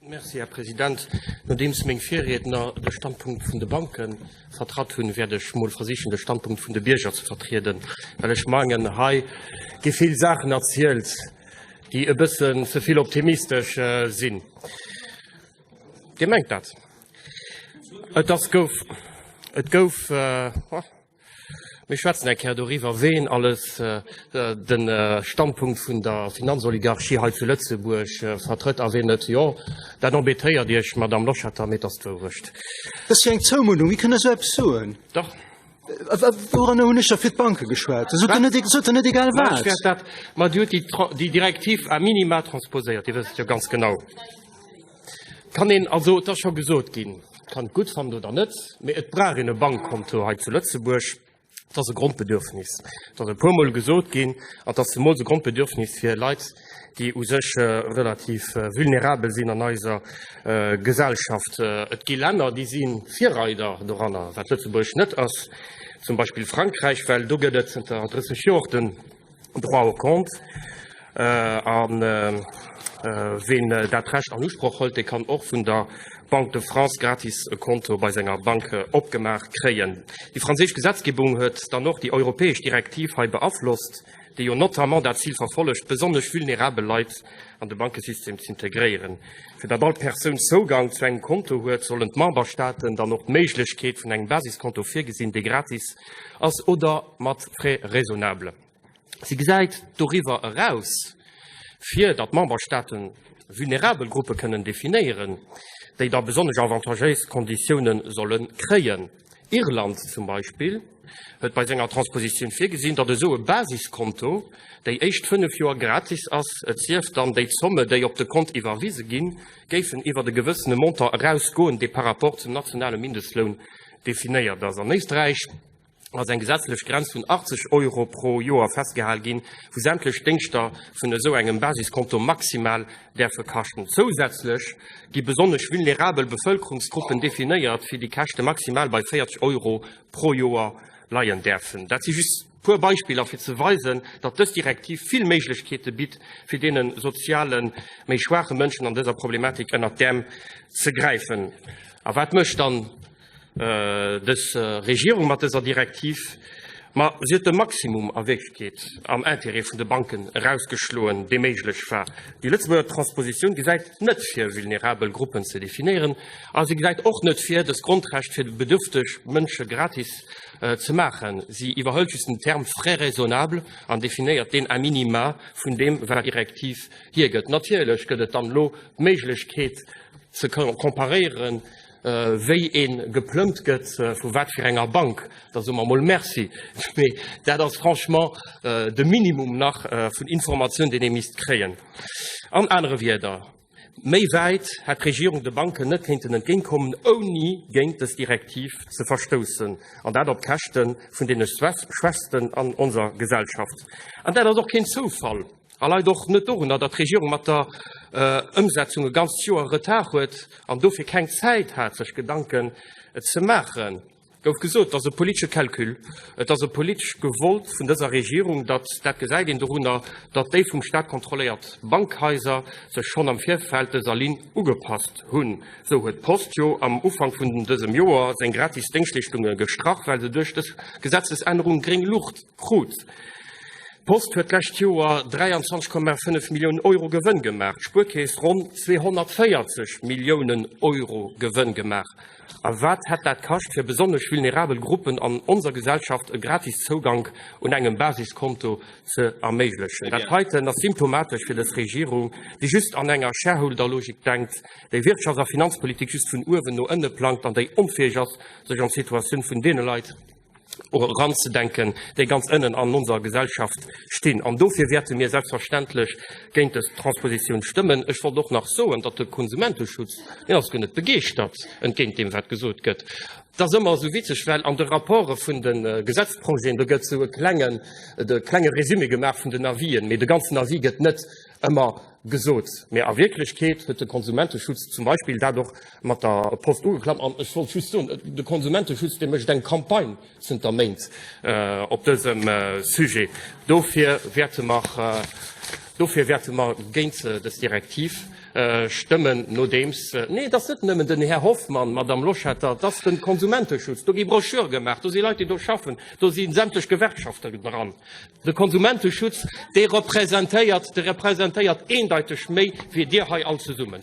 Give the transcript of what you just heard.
Merci, Här President. Nodeems meng Virriedner de Standpunkt vun de Banke vertratt hunn, wäert ech emol versichen, de Standpunkt vun de Bierger ze vertrieden. Well ech mengen, hei gi vill Saachen erzielt, déi e bëssen ze vill optimistesch sinn. Dir mengt dat? Et gouf. Mir schwätzen eng Kéier doriwwer, ween alles de Standpunkt vun der Finanzoligarchie hei zu Lëtzebuerg vertrëtt a ween net. Jo, dat embêtéiert Iech, Madamm Loschetter, mee et ass d'Wourecht. Dat ass jo eng Zoumunnung. Wéi kënnt Der esou eppes soen? Dach. Wouranner hunn ech da fir d'Banke geschwat? Sot Der net egal wat? Ma Dir hutt déi Direktiv a minima transposéiert, Dir wësst et jo ganz genau. Kann een, also et ass scho gesot ginn, kann et gutt fannen oder net, mee et brauch een e Bankkonto hei zu Lëtzebuerg. Et ass e Grondbedürfnis. Et ass e puermol gesot ginn, an et ass zemools e Grondbedürfnis fir Leit, déi u sech relativ vulnerabel sinn an eiser Gesellschaft. Et gi Länner, déi si Virreider doranner, wat Lëtzebuerg net ass, zum Beispill Frankräich, well do gëtt et zënter 30 Joer och de Droit au compte. A ween dat Recht an Usproch hëlt, dee kann och vun der Banque de France gratis e Konto bei senger Bank opgemaach kréien. Déi franséisch Gesetzgebung huet dann och déi europäesch Direktiv hei beaflosst, déi jo notamment dat Zil verfollegt, besonnesch vulnerabel Leit an de Bankesystem z'integréieren. Fir datt all Persoun Zougang zu engem Konto huet, sollen d'Memberstaaten dann och d'Méiglechkeet vun engem Basiskonto virgesinn, dee gratis ass oder mat Frais raisonnables. Si gesäit doriwwer eraus, fir datt d'Memberstaaten vulnerabel Gruppe kënnen definéieren, déi da besonnesch avantagéis Konditiounen solle kréien. Irland zum Beispill huet bei senger Transpositioun virgesinn, datt esou e Basiskonto déi éischt fënnef Joer gratis ass, et sief dann, déi Zomme, déi op de Kont iwwerwise ginn, géifen iwwert e gewëssene Montant erausgoen, dee par rapport zum nationale Mindestloun definéiert ass. An Éisträich ass eng gesetzlech Grenz vun 80 Euro pro Joer festgehal ginn, wou sämtlech Déngschter vun esou engem Basiskonto maximal däerfe kaschten. Zousätzlech gi besonnesch vulnerabel Bevëlkerungsgruppen definéiert, fir déi Käschte maximal bei 40 Euro pro Joer leien däerfen. Dat si just. E puer Beispiller, fir ze weisen, datt dës Direktiv vill Méiglechkeete bitt, fir deene soziale méi schwaache Mënschen an dëser Problematik ënnert d'Äerm ze gräifen. A wat mécht dann dës Regierung mat dëser Direktiv? Ma si huet de Maximum a Wéift geet, am Intérêt vun de Banken erausgeschloen, dee méiglech war. Déi Lëtzebuerger Transpositioun gesäit net vir, vulnerabel Gruppen ze definéieren a si gesäit och net vir, dës Grondrecht fir bedürfteg Mënsche gratis ze maachen. Si iwwerhëlt just den Term frais raisonnables an definéiert deen a minima vun deem, wat d'Direktiv hiergëtt. Natierlech gëtt et dann elo d'Méiglechkeet ze comparéieren, wéi ee geplëmmt gëtt, vu wat fir enger Bank, da soe mer emol Merci. Mee dat ass franchement de Minimum nach vun Informatioun, deen ee misst kréien. An anere Wierder, Méi wäit hätt d'Regierung de Banken net kéinten entgéintkommen, ouni géint dës Direktiv ze verstoussen, an dat op Käschte vun deene Schwächsten an onser Gesellschaft. An dat ass och keen Zoufall a leit och net dorunner, datt d'Regierung mat der Ëmsetzung e ganzt Joer Retard huet an dofir keng Zäit hat, sech Gedanken ze maachen. gouf gesot, et ass e politesche Calcul, et ass e politesch Gewollt vun dëser Regierung, datt, dat gesäit een dorunner, datt déi vum Staat kontrolléiert Bankhaiser sech schonn am Virfeld dëser Linn ugepasst hunn. Esou huet d'Post jo am Ufank vun dësem Joer seng gratis Déngschtleeschtunge gestrach, well se duerch dës Gesetzesännerung gréng Luucht krut. D'Post huet d'lescht Joer 23,5 Milliounen Euro Gewënn gemaach, d'Spuerkeess ronn 240 Milliounen Euro Gewënn gemaach. A wat hätt dat kascht fir besonnesch vulnerabel Gruppen an onser Gesellschaft e gratis Zougank un engem Basiskonto ze erméiglechen? Dat heiten ass symptomatesch fir dës Regierung, déi just an enger Shareholderlogik denkt, déi Wirtschafts a Finanzpolitik just vun uewen no ënne plangt an déi onfäeg ass, sech an d'Situatioun vun deene Leit, eranzedenken, déi ganz ënnen an onser Gesellschaft stinn. An dofir wäerte mir selbstverständlech géint dës Transposition stëmmen. Ech wollt och nach soen, datt de Konsumenteschutz, deen ass guer net begeeschtert, entgéint deem wat gesot gëtt. Et ass ëmmer esou witzeg, well an de Rapporte vun de Gesetzprojeten, do gëtt esou e klenge Résumé gemaach vun den Avis'en, mee de ganzen Avis gëtt net ëmmer gesot. Mee a Wierklechkeet huet de Konsumenteschutz zum Beispill dat och mat der Post ugeklappt. An ech wollt just soen, de Konsumenteschutz dee mécht eng Campagne zënter Méint op dësem Sujet. Dofir wäerte mer, dofir wäerte mer géint dës Direktiv stëmmen, nodeems, nee, et ass net nëmmen den Här Hoffmann, Madame Loschetter, et ass de Konsumenteschutz. Do gi Broschüre gemaach, do si Leit déi do schaffen, do si sämtlech Gewerkschaften dran, De Konsumenteschutz, dee representéiert, dee representéiert eendeiteg méi wéi Dir hei all zesummen.